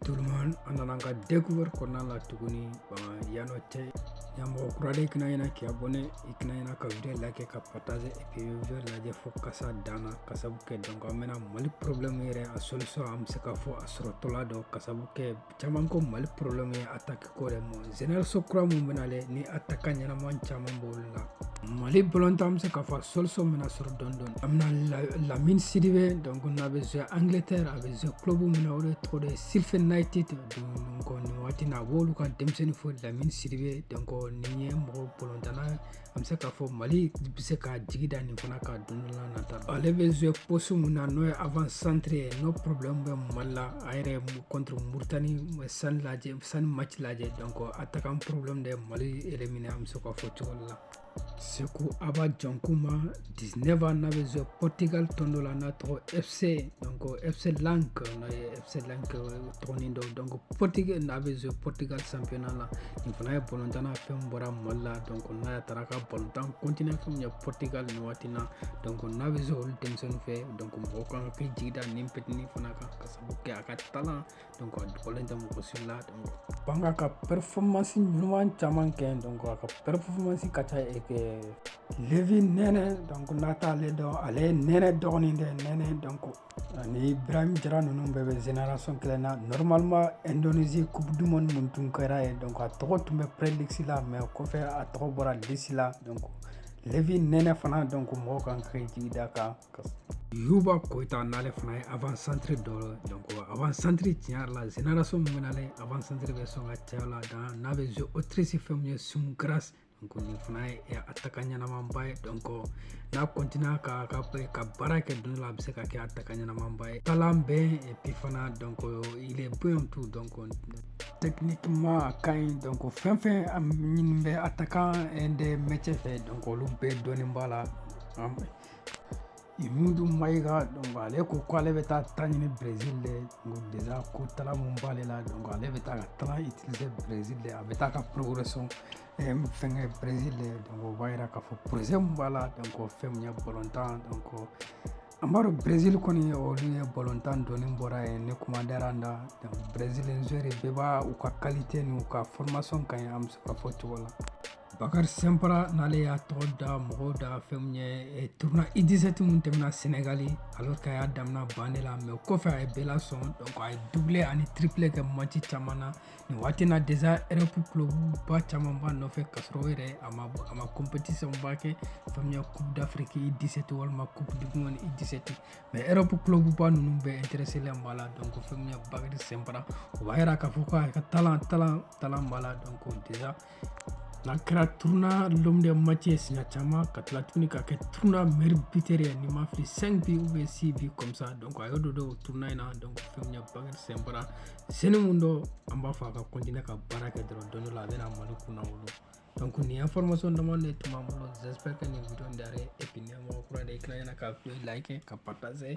Tout le monde an nana an ka découverte kɔnɔna la tuguni bama yanɔ tɛ ye mɔgɔ kura de i kana ɲina k'i abonné i kana ɲina ka video like ka partage et puis video lajɛ fo ka se a dan na ka sabu kɛ donc an bɛna mali problème yɛrɛ a solution an bɛ se ka fɔ a sɔrɔtɔla don ka sabu kɛ caman ko mali problème ye attaque ko de mais génération kura min bɛna le ni attaquant ɲɛnama caman b'olu la mali balontan an bɛ se k'a fɔ solution bɛna sɔrɔ dɔɔni dɔɔni an bɛna lamini sidibe donc n'a bɛ jouer angleterre a bɛ jouer club min na o de tɔgɔ de sheffield united donc nin waati na a b'olu ka denmisɛnnin fo lamini sidibe donc nin ye mɔgɔ balontanna an bɛ se k'a fɔ mali bɛ se k'a jigi da nin fana kan don la nata ale bɛ jouer poste min na n'o ye avant centre ye n'o problème bɛ mali la a yera contre mauritanie chan lajɛ chan match lajɛ donc attaquant problème de mali éliminé an bɛ se k'a fɔ cogo la seku aba jankuma 19 ans n'a bɛ jouer portugal tɔn dɔ la n'a tɔgɔ fc donc fc lank n'a ye fc C Lank tɔgɔnin don donc portugal euh, n'a bɛ jouer portugal championnat la nin fana ye balontanna fɛn bɔra mali la donc n'a taara ka balontan continuer fɛn ye portugal nin waati na donc n'a bɛ jouer olu denmisɛnnin fɛ donc mɔgɔ kan k'i jigi da nin petini fana kan ka sabu kɛ a ka talent donc a dogolen tɛ mɔgɔ si la donc ban ka ka performance ɲuman caman kɛ donc a ka performance ka ca e kɛ levi nene donc n'a t'ale dɔn ale ye nene dɔgɔnin de nene donc Ani barahi jara ninnu bɛɛ bɛ zeinason kelen na nɔrɔmama ndonezi ku duman man minnu tun kɛra ye dɔn a tɔgɔ tun bɛ peredisi la mɛ kɔfɛ a tɔgɔ bɔra disi la dɔn fi nɛnɛ fana dɔn ko mɔgɔw kan ka jigi da kan ka yuba kota n'ale fana ye a santiri dɔ a santiri tiɲɛyara la zeinaso minnu bɛ a santeri bɛ sɔn ka cɛ la dan n'a bɛ z otirisi fɛn ye sunkura donc nin fana ye eh, attaquant ɲɛnamanba ye donc n'a continua ka ka ka baara kɛ don la a bɛ se ka kɛ attaquant ɲɛnamanba ye talent bɛ et puis fana donc il est bon tout donc techniquement a ka ɲi donc fɛn fɛn a ɲini bɛ attaquant de métier fɛ donc olu bɛɛ dɔɔnin b'a la Mudu mayika dɔn ale ko ko ale bɛ taa ta ɲini brez de dez ko taara minnu b'ale la dɔn ale bɛ taa ka taa i tɛ brez de a bɛ taa ka porourre sɔn fɛnkɛ brez de o b'a jira k'a fɔ poroze min b'a la dɔn kɔ fɛn min ye bɔtan dɔn kɔ an b'a dɔn brez kɔni olu ye bɔtan dɔni bɔra ye ne kuma diyara an da brezre bɛɛ b'a u ka kalite n uu ka fmasɔn ka ye an bɛ se ka fɔ cogo la Bakari Sɛnpara n'ale y'a tɔgɔ da mɔgɔw da fɛn min ye tournoi U17 min tɛmɛna Sɛnɛgali alors que a y'a damina banc de la mais o kɔfɛ a ye bɛɛ lasɔn donc a ye doublé ani triplé kɛ match caman na nin waati na déjà Europe clubba caman b'a nɔfɛ k'a sɔrɔ o yɛrɛ a ma compétition ba kɛ fɛn min ye coupe d'Afrique U17 walima coupe du monde U17 mais Europe clubba ninnu bɛɛ intéressé len b'a la donc fɛn min ye Bakari Sɛnpara o b'a jira k'a fɔ ko a ka talent b'a la donc déjà n'a kɛra tournoi l'homme du match ye siɲɛ caman ka tila tuguni ka kɛ tournoi meilleur buteur ye ni n ma fili 5 buts ou bien 6 buts comme ça donc a y'o de don o tournoi in na donc fɛn min ye Bakari Sɛnpara seni mun dɔ an b'a fɔ a ka continuer ka baara kɛ dɔrɔn don dɔ la a bɛna Mali kunnawolo donc nin information dama de tun b'an bolo j'espère que nin video in diyara i ye et puis n'i ye mɔgɔ kura de ye i kana ɲina ka like ka partager